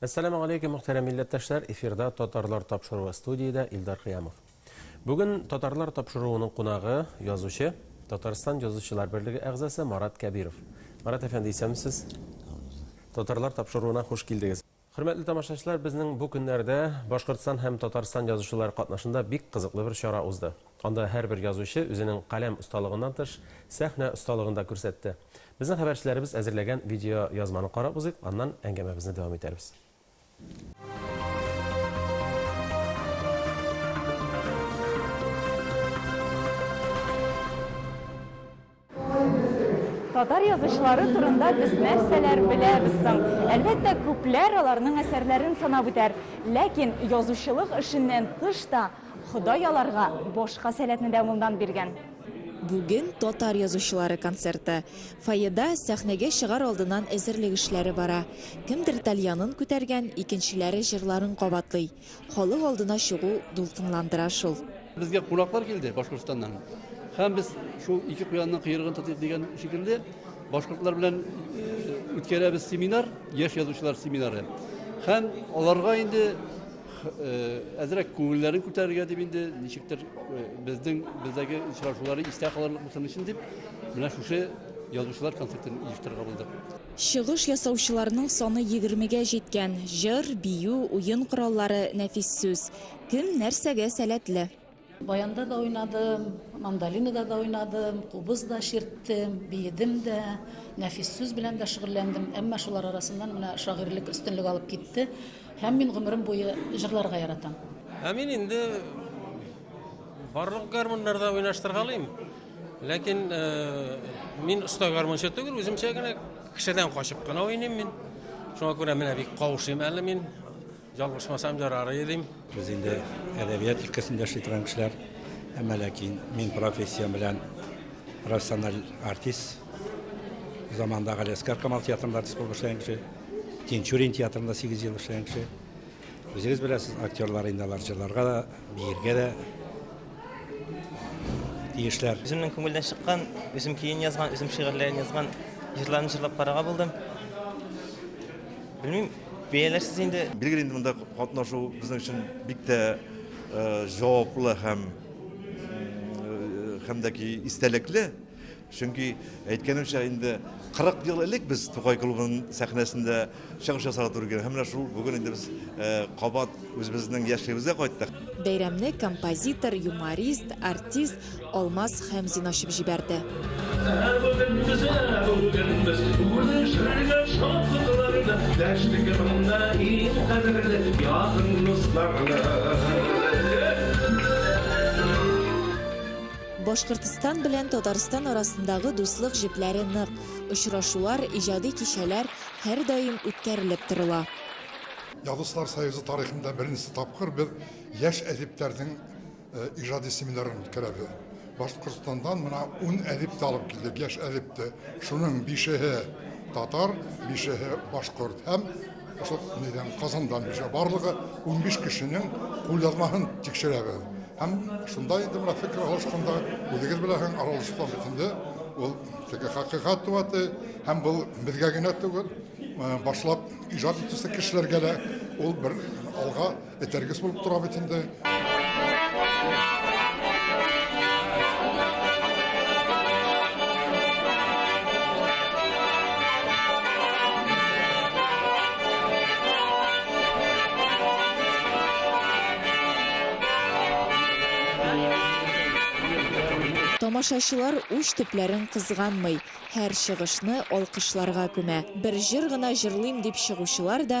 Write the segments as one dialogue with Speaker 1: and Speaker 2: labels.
Speaker 1: Әссәламү алейкүм, мөхтәрәм милләттәшләр! Эфирда Татарлар тапшыруы, студиядә Илдар Кыямов. Бүген Татарлар тапшыруының кунагы, язучы, Татарстан Язучылар берлеге әгъзасы Марат Кәбиров. Марат әфәнде, исәнмесез! Татарлар тапшыруына хуш килдегез! Хөрмәтле тамашачылар, безнең бу көннәрдә Башкортстан һәм Татарстан язучылары катнашында бик кызыклы бер чара узды. Анда һәрбер язучы үзенең каләм осталыгыннан тыш, сәхнә осталыгын да күрсәтте. Безнең хәбәрчеләребез әзерләгән видеоязманы карап узыйк, аннан әңгәмәбезне дәвам итәрбез.
Speaker 2: Татар язучылары турында без нәрсәләр беләбез соң? Әлбәттә, күпләр аларның әсәрләрен санап үтәр. Ләкин язучылык эшеннән тыш та Ходай аларга башка сәләтне дә мондан биргән. Бүген
Speaker 3: татар язучылары концерты. Фойеда сәхнәгә чыгар алдыннан әзерлек эшләре бара. Кемдер тальянын күтәргән, икенчеләре җырларын кабатлый. Халык алдына чыгу дулкынландыра шул. Безгә кунаклар
Speaker 4: килде Башкортстаннан. Һәм без шул ике куянның кыерыгын тотыйк дигән шикелле башкортлар белән үткәрәбез семинар, яшь язучылар семинары. Һәм аларга инде әзрәк күңелләрен күтәрергә дип инде ничектер безнең бездәге очрашулары истә калырлык булсын өчен дип менә шушы язучылар концертын оештырырга булдык. Чыгыш
Speaker 3: ясаучыларның саны егермегә җиткән, җыр, бию, уен кораллары, нәфис сүз. Кем нәрсәгә сәләтле. Баянда да
Speaker 5: уйнадым, мандолинада да уйнадым, кубыз да чирттем, биедем дә, нәфис сүз белән дә шөгыльләндем. Әмма шулар арасыннан менә шагыйрьлек өстенлек алып китте. Һәм мин гомерем буе җырларга яратам. Ә мин инде
Speaker 6: Барлык гармуннарда уйнаштыргалыйм. Ләкин э, мин оста гармунчы түгел, үземчә генә кешедән качып кына уйныйм мин. Шуңа күрә менә бик каушыйм әле мин. Ялгышмасам ярар идем. Без инде
Speaker 7: әдәбият өлкәсендә эшли торган кешеләр. Әмма ләкин мин профессиям белән профессиональ артист. Заманда Галиәскар Камал театрында артист булып эшләгән кеше. Тинчурин театрында 8 ел эшләгән кеше. Үзегез беләсез, актерлар инде алар җырларга да, биергә дә тиешләр. Үземнең күңелдән чыккан,
Speaker 8: үзем көен язган, үзем шигырьләрен язган җырларны җырлап карарга булдым. Белмим, бәяләрсез инде. Билгеле инде монда
Speaker 9: катнашу безнең өчен бик тә җаваплы һәм һәм дә ки истәлекле. Чөнки, әйткәнемчә, инде 40 ел элек без Тукай клубының сәхнәсендә чыгыш ясарга туры килгән. Һәм менә шул бүген инде без кабат үзебезнең яшьлегебезгә кайттык. Бәйрәмне
Speaker 3: композитор, юморист, артист Алмаз Хәмзин ачып җибәрде. Башкортстан белән Татарстан арасындагы дуслык җепләре нык, очрашулар, иҗади кичәләр һәрдаим үткәрелеп торыла. Язучылар
Speaker 10: союзы тарихында беренче тапкыр без яшь әдипләрнең иҗади семинарын үткәрәбез. Башкортстандан менә ун әдип тә алып килдек, яшь әдип тә. Шуның бишеһе татар, бишеһе башкорт һәм Ошо нидән Казандан бишә барлыгы 15 кешенең кулъязмаһын тикшерәбез. Һәм шунда инде менә фикер алышканда үзегез белән аралашкан битендә ул теге хакыйкат туаты һәм бу безгә генә түгел, башлап иҗат итүче кешеләргә дә ул бер алга Этәргес булып тора бит инде.
Speaker 3: Тамашачылар уч төпләрен кызганмый, һәр чыгышны алкышларга күмә. Бер җыр гына җырлыйм дип чыгучылар да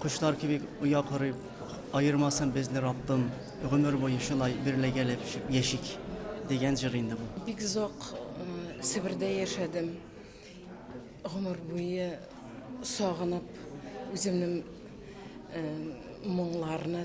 Speaker 11: Кошлар кебек оя корып, аермасын безне Раббым, гомер буе шулай берләгәләп яшик, дигән җыр инде бу. Бик озак
Speaker 12: Себердә яшәдем. Гомер буе сагынып, үземнең моңларны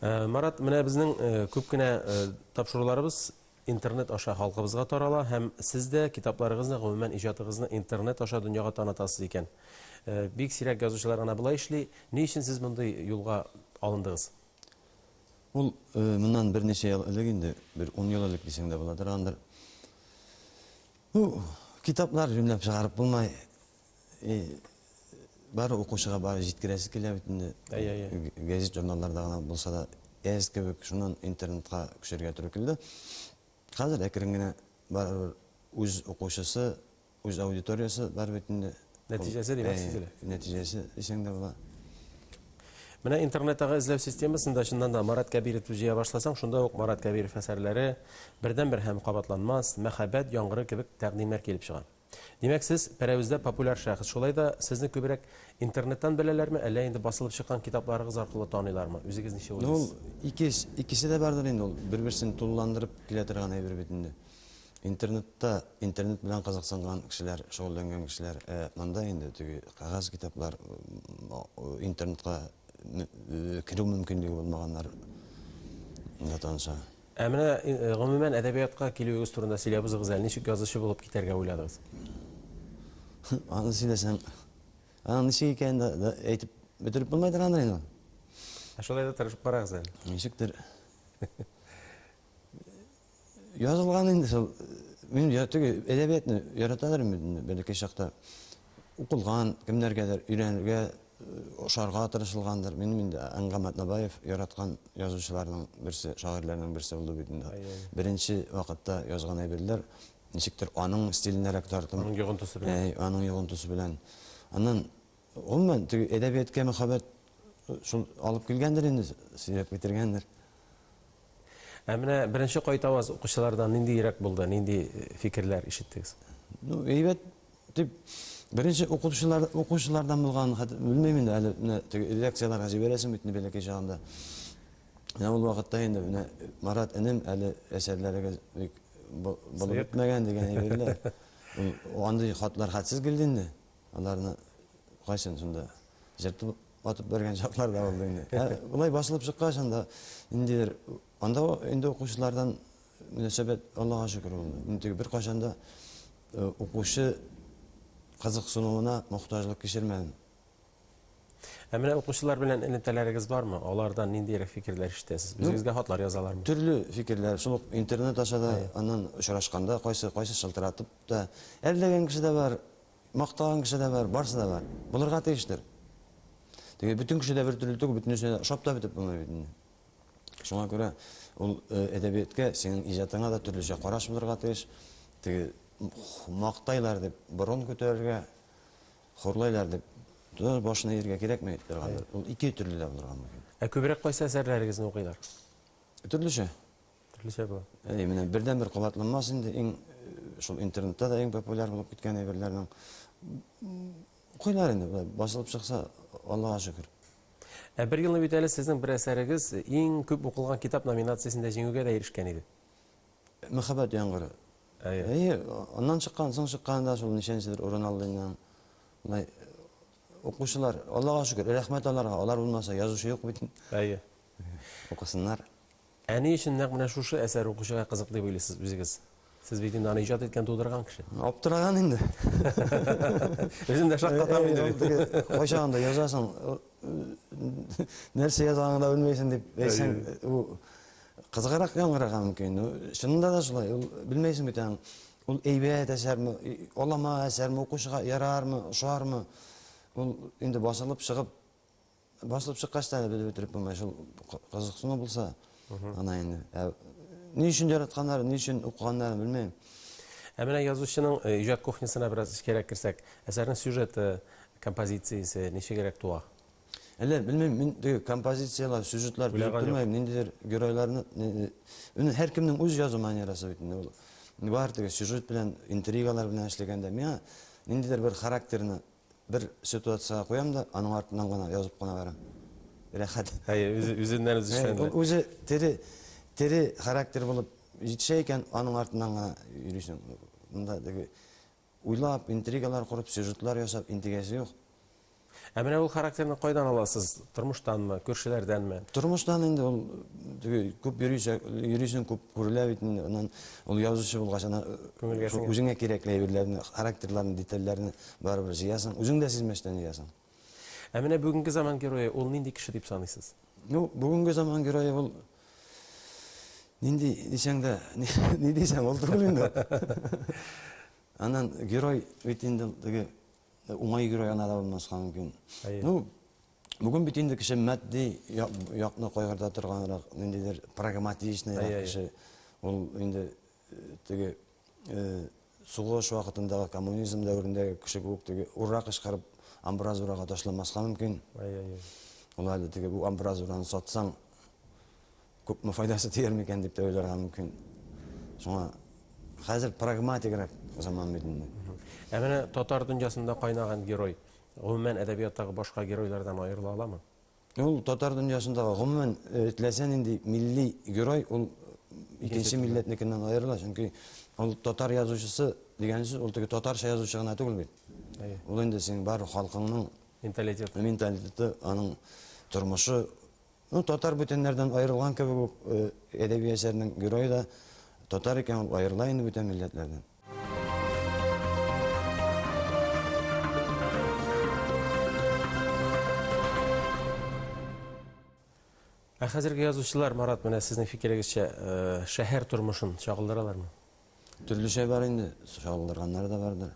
Speaker 1: Э, Марат, менә безнең э, күп кенә э, тапшыруларыбыз интернет аша халкыбызга тарала һәм сез дә китапларыгызны, гомумән иҗатыгызны интернет аша дөньяга танытасыз икән. Бик сирәк язучылар гына болай эшли. Ни өчен сез мондый юлга алындыгыз?
Speaker 13: Ул моннан берничә ел элек инде, бер 10 ел элек дисәң дә була торгандыр. Бу китаплар юнләп чыгарып булмай. И бар укучыга бар җиткерәсе килә бит инде. Гәзит журналларда гына булса да әз кебек, шуннан интернетка күчәргә туры килде. Хәзер әкрен генә барыбер үз укучысы, үз аудиториясе бар бит инде. Нәтиҗәсе димәк
Speaker 1: сизелә. Нәтиҗәсе дисәң
Speaker 13: дә була.
Speaker 1: Менә интернеттагы эзләү системасында чыннан да Марат Кәбировны җыя башласаң, шунда ук Марат Кәбиров әсәрләре, Бердәнбер һәм кабатланмас, Мәхәббәт яңгыры кебек тәкъдимнәр килеп чыга. Димәк, сез Пәрәвездә популяр шәхес. Шулай да сезне күбрәк интернеттан беләләрме, әллә инде басылып чыккан китапларыгыз аркылы таныйлармы? Үзегез ничек Ну, ул уйлыйсыз? икес, икесе дә
Speaker 13: бардыр инде, ул бер-берсен тулыландырып килә торган әйбер бит инде. Интернетта, интернет белән кызыксынган кешеләр, шөгыльләнгән кешеләр, ә монда инде теге кәгазь китаплар, интернетка керү мөмкинлеге булмаганнар да таныша. Ә менә,
Speaker 1: гомумән, әдәбиятка килүегез турында сөйләбезгез әле, ничек язучы булып китәргә уйладыгыз?
Speaker 13: Аны сөйләсәм, аның ничек икәнен дә, дә әйтеп бетереп булмыйдыр аны инде. Ә шулай
Speaker 1: да тырышып карагыз әле. Ничектер.
Speaker 13: Язылган инде шул. Мин теге әдәбиятны яраталар инде бәләкәй чакта. укылган, кемнәргәдер өйрәнергә, ошарга тырышылгандыр. Минем инде Әнгам Атнабаев яраткан язучыларның берсе, шагыйрьләрнең берсе булды бит инде. Беренче вакытта язган әйберләр ничектер аның стиленәрәк тартым. Аның йогынтысы белән. Әй,
Speaker 1: аның йогынтысы белән.
Speaker 13: Аннан гомумән теге әдәбияткә мәхәббәт шул алып килгәндер инде, сөйрәп китергәндер. Ә менә
Speaker 1: беренче кайтаваз укучылардан нинди йөрәк булды, нинди э, фикерләр ишеттегез? Ну, әйбәт
Speaker 13: дип беренче укытучылар укучылардан булган хәтер белмим инде әле менә теге лекцияләргә җибәрәсең бит инде бәләкәй чагында. Менә ул вакытта инде менә Марат энем әле әсәрләрегез бик булып бетмәгән дигән әйберләр. Ул андый хатлар хәтсез килде инде. Аларны кайсын шунда җыртып атып бәргән чаклар да булды инде. Ә болай басылып чыккач анда ниндидер анда инде укучылардан мөнәсәбәт Аллага шөкер ул. Инде бер кайчан да э, укучы кызыксынуына мохтаҗлык кичермәдем.
Speaker 1: Ә менә укучылар белән элемтәләрегез бармы? Алардан ниндирәк фикерләр ишетәсез? Ну, Үзегезгә хатлар язалармы? Төрле фикерләр,
Speaker 13: шул интернет аша да, аннан очрашканда кайсы кайсы шылтыратып та. Әлләгән кеше дә бар, Мактаган кеше дә бар, барсы да бар. Булырга тиештер. Теге бөтен кеше дә бер төрле түгел, бөтенесе дә ошап та бетеп булмый бит инде. Шуңа күрә ул э, әдәбияткә, синең иҗатыңа да төрлечә караш булырга тиеш. Теге мактайлар дип борын күтәрергә, хурлайлар дип тоташ башына ияргә кирәкми торгандыр. Ул ике төрле дә булырга мөмкин. Ә күбрәк кайсы
Speaker 1: әсәрләрегезне укыйлар? Төрлечә.
Speaker 13: Төрлечә
Speaker 1: була. Әй, менә бердәнбер
Speaker 13: кабатланмас инде, иң шул интернетта да иң популяр булып киткән әйберләрнең укыйлар инде, басылып чыкса, Аллага шөкер. Ә бер елны
Speaker 1: бит әле сезнең бер әсәрегез иң күп укылган китап номинациясендә җиңүгә дә ирешкән иде. Мәхәббәт
Speaker 13: яңгыры. Әйе, аннан чыккан, соң чыккан да шул ничәнчедер урын алды инде. Мындай укучылар, Аллага шөкер, рәхмәт аларга, алар булмаса язучы юк бит. Әйе. Укысыннар. Ә
Speaker 1: ни өчен нәкъ менә шушы әсәр укучыга кызык дип уйлыйсыз үзегез? Сез бит инде аны иҗат иткән, тудырган кеше. Аптыраган инде. Үзем дә шаккатам инде. Юк, теге кайчагын да язасың,
Speaker 13: нәрсә язганыңны да белмәйсең дип әйтсәң, ул кызыграк яңгырарга мөмкин. Чынында да шулай, ул белмәйсең бит аны. Ул әйбәт әсәрме, алама әсәрме, укучыга ярармы, ошармы? Ул инде басылып чыгып, Басылып чыккач та әле белеп бетереп булмый. Шул кызыксыну булса, ана инде. Ә ни өчен яратканнарын, ни өчен укыганнарын белмим. Ә менә
Speaker 1: язучының э, иҗат кухнясына бераз эчкәрәк керсәк, әсәрнең сюжеты, композициясе ничегрәк туа? Әллә белмим,
Speaker 13: мин теге композицияләр, сюжетлар Уйлаган белеп юк. тормыйм, ниндидер геройларны ни- Үне һәркемнең үз язу манерасы бит инде ул. Бар теге сюжет белән, интригалар белән эшләгәндә миңа ниндидер бер характерны Бер ситуацияга куям да, аның артыннан гына язып кына барам. Рәхәт. Әй, үзе үзеннән
Speaker 1: үзе эшләнде. Ул үзе тере
Speaker 13: тере характер булып җитешә икән, аның артыннан гына йөрисең. Монда теге уйлап, интригалар корып, сюжетлар ясап интегәсе юк. Ә менә ул
Speaker 1: характерны кайдан аласыз? Тормыштанмы, күршеләрдәнме? Тормыштан инде ул
Speaker 13: теге күп йөрисә, йөрисең күп күрелә бит инде. Аннан ул язучы булгач, ана күңелгә үзеңә кирәкле әйберләрне, характерларны, детальләрне Барыбер җыясың, үзең дә сизмәстән җыясың. Ә менә
Speaker 1: бүгенге заман герое ул нинди кеше дип саныйсыз? Ну, бүгенге заман
Speaker 13: герое ул нинди дисәң дә, ни дисәң ул түгел инде. Аннан герой бит инде теге уңай герой ана да булмаска мөмкин. Ну, бүген бит инде кеше матди якны кайгырта торганрак, ниндидер прагматичныйрак кеше. Ул инде теге Сугыш вакытындагы коммунизм дәверендәге кеше кебек теге ура кычкырып амбразурага ташламаска мөмкин. Ул әле теге бу амбразураны сатсаң күпме файдасы тияр микән дип тә уйларга мөмкин. Шуңа хәзер прагматигрәк заман бит инде. Ә менә татар
Speaker 1: дөньясында кайнаган герой, гомумән әдәбияттагы башка геройлардан аерыла аламы? Ул татар
Speaker 13: дөньясындагы гомумән э, теләсә нинди милли герой ул икенче милләтнекеннән аерыла, чөнки ул татар язучысы дигән сүз ул теге татарча язучы гына түгел бит. Ул инде синең бар халкыңның менталитет менталитеты, аның тормышы. Ну, татар бүтәннәрдән аерылган кебек үк э, әдәби әсәрнең герое да татар икән ул аерыла инде бүтән милләтләрдән.
Speaker 1: Ә хәзерге язучылар, Марат, менә сезнең фикерегезчә, э, шәһәр тормышын чагылдыралармы? Төрлечә
Speaker 13: бар инде, чагылдырганнар да бардыр.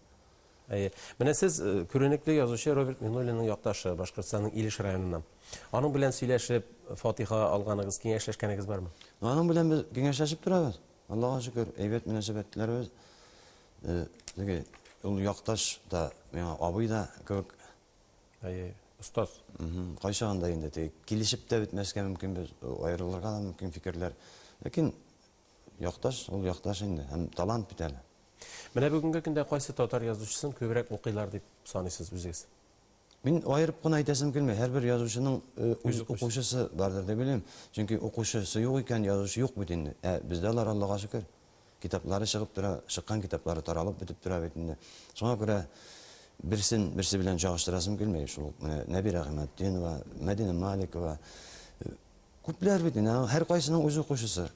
Speaker 13: Әйе. Менә
Speaker 1: сез э, күренекле язучы Роберт Минуллинның якташы, Башкортстанның Илеш районыннан. Аның белән сөйләшеп, фатиха алганыгыз, киңәшләшкәнегез бармы? Аның белән без
Speaker 13: киңәшләшеп торабыз. Аллага шөкер, әйбәт мөнәсәбәтләребез. Теге ул якташ та, миңа абый да кебек. Әйе,
Speaker 1: остаз.
Speaker 13: Кайчагында инде теге килешеп тә бетмәскә мөмкин, без аерылырга да мөмкин фикерләр. Ләкин якташ, ул якташ инде, һәм талант бит әле. Менә бүгенге
Speaker 1: көндә кайсы татар язучысын күбрәк укыйлар дип саныйсыз үзегез? Мин аерып
Speaker 13: кына әйтәсем килми, һәрбер язучының үз укучысы бардыр дип уйлыйм. Чөнки укучысы юк икән, язучы юк бит инде. Ә бездә алар, Аллага шөкер, китаплары чыгып тора, чыккан китаплары таралып бетеп тора бит инде. Шуңа күрә берсен берсе белән чагыштырасым килми. Шул ук менә Нәбирә Гыйматдинова, Мәдинә Маликова, күпләр бит инде, һәркайсының үз укучысы.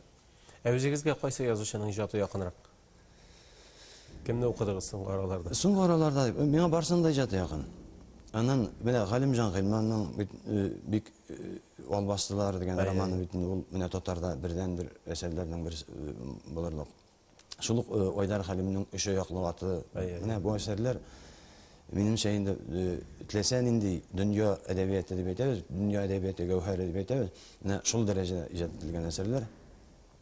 Speaker 13: Ә үзегезгә
Speaker 1: кайсы язучының иҗаты якынрак? Кемне укыдыгыз соңгы араларда? Соңгы араларда
Speaker 13: миңа барсында иҗаты якын. Аннан менә Галимҗан Гыйльманның бит э, бик э, албастылар дигән Әй, романы бит инде ул менә татарда бердән бер әсәрләрнең бер э, булырлык. Шул ук э, Айдар Хәлимнең Өч аяклы аты. Әй, әй. Менә бу әсәрләр минемчә инде э, теләсә нинди дөнья әдәбияты дип әйтәбез, дөнья әдәбияты гәүһәре дип әйтәбез. Менә шул дәрәҗәдә иҗат ителгән әсәрләр.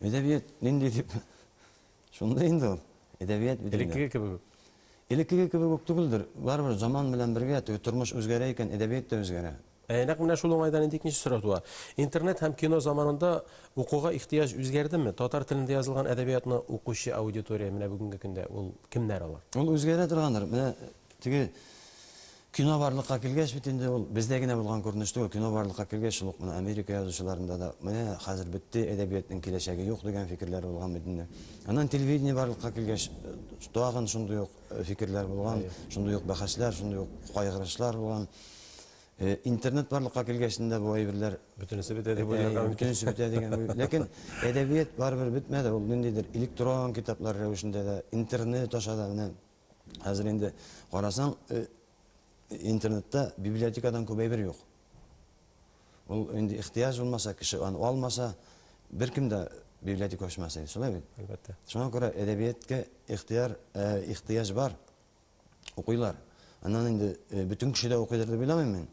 Speaker 13: Әдәбият нинди дип шундый инде ул. Әдәбият бит. Элеккеге кебек үк.
Speaker 1: Элеккеге кебек
Speaker 13: үк түгелдер. Барыбер заман белән бергә теге тормыш үзгәрә икән, әдәбият та үзгәрә. Ә нәкъ менә шул уңайдан
Speaker 1: инде икенче сорау туа. Интернет һәм кино заманында укуга ихтыяҗ үзгәрдеме? Татар телендә язылган әдәбиятны укучы аудитория менә бүгенге көндә
Speaker 13: ул
Speaker 1: кемнәр
Speaker 13: алар?
Speaker 1: Ул үзгәрә торгандыр.
Speaker 13: Менә Теге
Speaker 1: кино
Speaker 13: барлыкка килгәч бит инде ул бездә генә булган күренеш түгел, кино барлыкка килгәч шул ук менә Америка язучыларында да менә хәзер бетте, әдәбиятның киләчәге юк дигән фикерләр булган бит инде. Аннан телевидение барлыкка килгәч тагын шундый ук фикерләр булган, шундый ук бәхәсләр, шундый ук кайгырышлар булган. Интернет барлыкка килгәч инде бу әйберләр бөтенесе бетә дип
Speaker 1: уйларга мөмкин. Бөтенесе бетә дигән уй.
Speaker 13: Ләкин әдәбият барыбер бетмәде, ул ниндидер электрон китаплар рәвешендә дә, интернет аша да менә Хәзер инде карасаң, э, интернетта библиотекадан күп әйбер юк. Ул инде ихтыяҗ булмаса, кеше аны алмаса, беркем дә библиотека ачмас иде, шулай бит? Әлбәттә. Шуңа күрә
Speaker 1: әдәбиятка
Speaker 13: ихтыяр, э, ихтыяҗ бар. Укыйлар. Аннан инде э, бөтен кеше дә укыйдыр дип уйламыйм мин.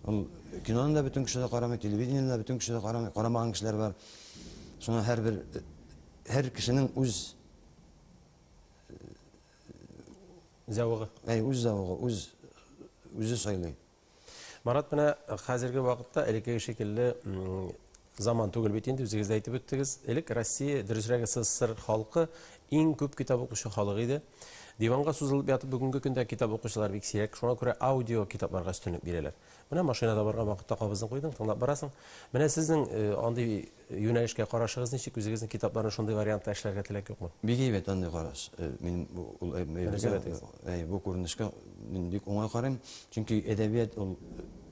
Speaker 13: Ул киноны да бөтен кеше дә карамый, телевидениены да бөтен кеше дә карамый, карамаган кешеләр бар. Шуңа һәрбер э, һәр кешенең үз
Speaker 1: Зәвыгы. Әй, үз зәвыгы,
Speaker 13: үз үзе сайлый. Марат менә
Speaker 1: хәзерге вакытта элеккеге шикелле заман түгел бит инде, үзегез дә әйтеп үттегез. Элек Россия, дөресрәге СССР халкы иң күп китап укучы халык иде. Диванга сузылып ятып бүгенге көндә китап укучылар бик сирәк, шуңа күрә аудио китапларга өстенлек бирәләр. Менә машинада барган вакытта кабызын куйдың, тыңлап барасың. Менә сезнең э, андый Юнәлешкә карашыгыз ничек? Үзегезнең китапларны шундый вариантта эшләргә теләк юкмы? Бик әйбәт андый караш.
Speaker 13: Мин бу күренешкә мин бик уңай карыйм. Чөнки әдәбият ул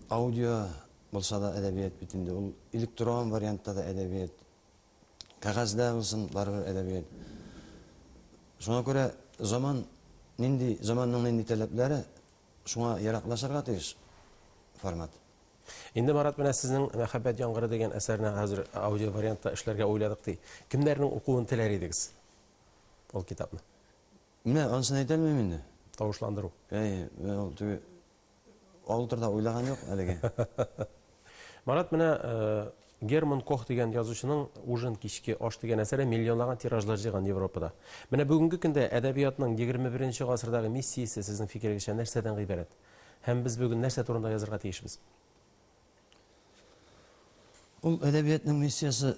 Speaker 13: аудио булса да әдәбият бит инде, ул электрон вариантта да әдәбият, кәгазьдә булсын, барыбер әдәбият. Шуңа күрә заман нинди, заманның нинди таләпләре, шуңа яраклашырга тиеш формат. Инде
Speaker 1: Марат менә сезнең Мәхәббәт яңгыры дигән әсәрне хәзер аудиовариантта эшләргә уйладык ди. Кемнәрнең укуын теләр идегез ул китапны? Менә
Speaker 13: анысын әйтә алмыйм инде. Тавышландыру.
Speaker 1: Әйе, менә ул
Speaker 13: теге авыл турында уйлаган юк әлегә.
Speaker 1: Марат менә Герман Кох дигән язучының Ужин кичке аш дигән әсәре миллионлаган тиражлар җыйган Европада. Менә бүгенге көндә әдәбиятның 21 нче гасырдагы миссиясе сезнең фикерегезчә нәрсәдән гыйбарәт? Һәм без бүген нәрсә турында язырга тиешбез?
Speaker 13: Ул әдәбиятның миссиясе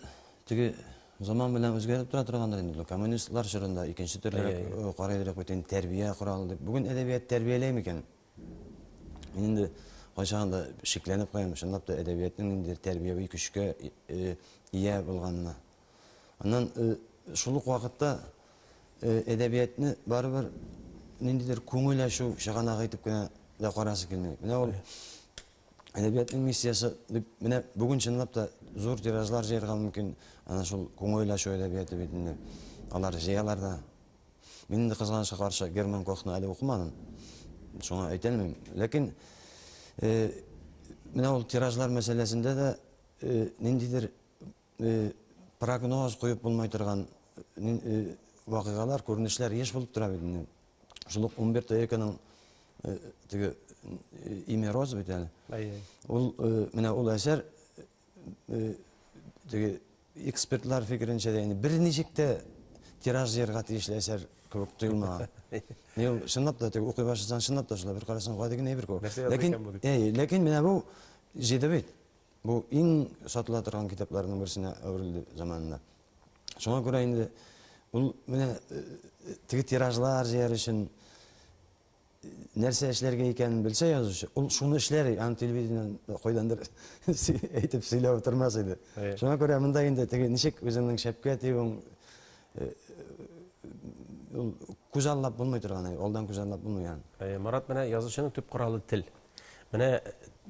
Speaker 13: теге заман белән үзгәреп тора торгандыр инде. Бу коммунистлар чорында икенче төрлерәк карый идек бит инде, тәрбия коралы дип. Бүген әдәбият тәрбияләй микән? Мин инде кайчагын да шикләнеп куям, чынлап та әдәбиятның ниндидер тәрбияви көчкә ия булганына. Аннан шул ук вакытта әдәбиятны барыбер ниндидер күңел ачу чыганагы итеп кенә дә карасы килми. Менә ул әдәбиятның миссиясе дип менә бүген чынлап та зур тиражлар җыярга мөмкин. Ана шул күңел ачу әдәбияты бит инде. Алар җыялар да. Мин инде кызганычка каршы Герман Кохны әле укымадым. Шуңа әйтә алмыйм. Ләкин менә ул тиражлар мәсьәләсендә дә ниндидер э, прогноз куеп булмай торган э, вакыйгалар, күренешләр еш булып тора бит инде. Шул ук Умберто Эконың э, теге имя Роз бит әле. Ул менә ул әсәр теге экспертлар фикеренчә дә инде берничек тә тираж җыярга тиешле әсәр кебек тоелмаган. Ни ул чынлап та теге укый башласаң чынлап та шулай бер карасаң гади генә әйбер күп. Ләкин әй, ләкин менә бу җиде бит. Бу иң сатыла торган китапларның берсенә әверелде заманында. Шуңа күрә инде ул менә теге тиражлар җыяр өчен нәрсә эшләргә икәнен белсә язучы, ул шуны эшләр, аны телевидениедән кайдандыр әйтеп сөйләп утырмас иде. Шуңа күрә монда инде теге ничек үзеңнең шәпкә тиюең ул күзаллап булмый торган, алдан күзаллап булмый аны. Марат, менә язучының
Speaker 1: төп коралы тел. Менә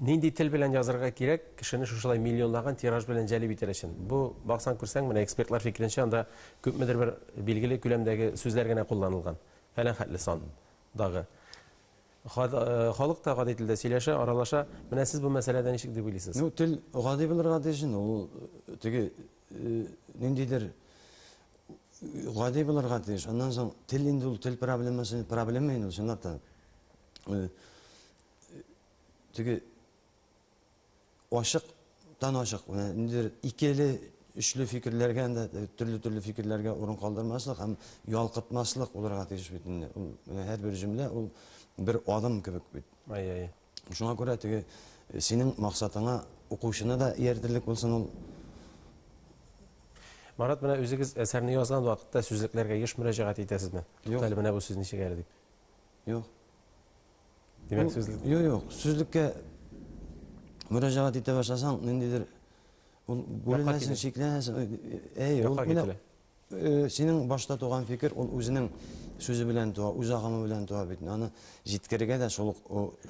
Speaker 1: нинди тел белән язырга кирәк, кешене шушылай миллионлаган тираж белән җәлеп итәр өчен. Бу баксаң күрсәң, менә экспертлар фикеренчә, анда күпмедер бер билгеле күләмдәге сүзләр генә кулланылган. Фәлән хәтле сан дагы. Халык та гади телдә сөйләшә, аралаша. Менә сез бу мәсьәләдә ничек дип уйлыйсыз? Ну, тел гади
Speaker 13: булырга тиеш инде. Ул теге ниндидер гади булырга тиеш. Аннан соң тел инде ул тел проблемасы, проблема инде ул чынлап та. э, теге ачыктан ачык ниндидер икеле өчле фикерләргә дә э, төрле төрле фикерләргә урын калдырмаслык һәм ялкытмаслык булырга тиеш бит инде ул һәрбер җөмлә ул бер адым кебек бит ай ай шуңа күрә теге э, синең максатыңа укучыны да ияртерлек булсын ул
Speaker 1: Марат, менә үзегез әсәрне язган вакытта сүзлекләргә еш мөрәҗәгать итәсезме? Юк. Әле менә бу сүз ничек әле дип. Юк. Димәк, сүзлек. Юк, юк. Сүзлеккә
Speaker 13: мөрәҗәгать итә башласаң, ниндидер ул бүленәсең, шикләнәсең. Әй, ул менә э, синең башта туган фикер, ул үзенең сүзе белән туа, үз агымы белән туа бит. Аны җиткерергә дә шул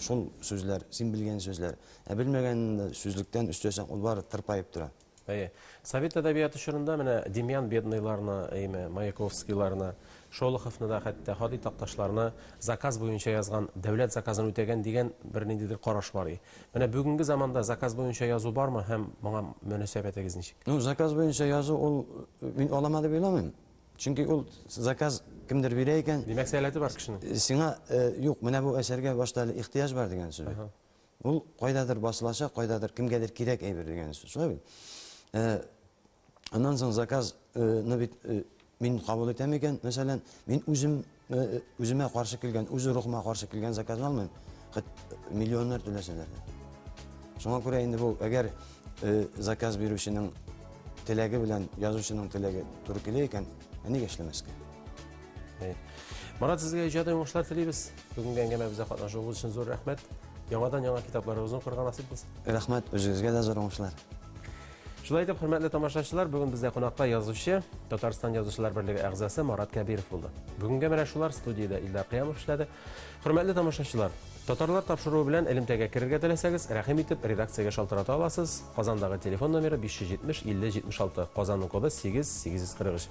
Speaker 13: шул сүзләр, син белгән сүзләр. Ә белмәгәнен сүзлектән өстәсәң, ул бары тырпаеп тора. Әйе. Совет
Speaker 1: әдәбияты чорында менә Демьян Бедныйларны, әйме, Маяковскийларны, Шолоховны да, хәтта Һади Такташларны заказ буенча язган, дәүләт заказын үтәгән дигән бер ниндидер караш бар и. Менә бүгенге заманда заказ буенча язу бармы һәм моңа мөнәсәбәтегез ничек? Ну, заказ буенча язу
Speaker 13: ул мин алама дип уйламыйм. Чөнки ул заказ кемдер бирә икән. Димәк, сәләте бар кешенең.
Speaker 1: Сиңа,
Speaker 13: юк, менә бу әсәргә башта әле ихтыяҗ бар дигән сүз. Ул кайдадыр басылачак, кайдадыр кемгәдер кирәк әйбер дигән сүз. Шулай бит. Э, аннан соң заказны э, бит э, мин кабул итәм икән, мәсәлән, мин үзем үземә каршы килгән, үз рухыма каршы килгән заказны алмыйм. Хәт миллионнар түләсәләр дә. Шуңа күрә инде бу, әгәр заказ бирүченең теләге белән язучының теләге туры килә икән, ә нигә эшләмәскә? Марат,
Speaker 1: сезгә иҗади уңышлар телибез. Бүгенге әңгәмәбезгә катнашуыгыз өчен зур рәхмәт. Яңадан яңа китапларыгызны укырга насыйп булсын. Рәхмәт, үзегезгә дә
Speaker 13: зур уңышлар. Шулай
Speaker 1: итеп, хөрмәтле тамашачылар, бүген бездә кунакта язучы, Татарстан язучылар берлеге әгъзасы Марат Кәбиров булды. Бүгенгә менә шулар студиядә Илдар Кыямов эшләде. Хөрмәтле тамашачылар, татарлар тапшыруы белән элемтәгә керергә теләсәгез, рәхим итеп редакциягә шалтырата аласыз. Казандагы телефон номеры 570 50 76, Казанның коды 8 843.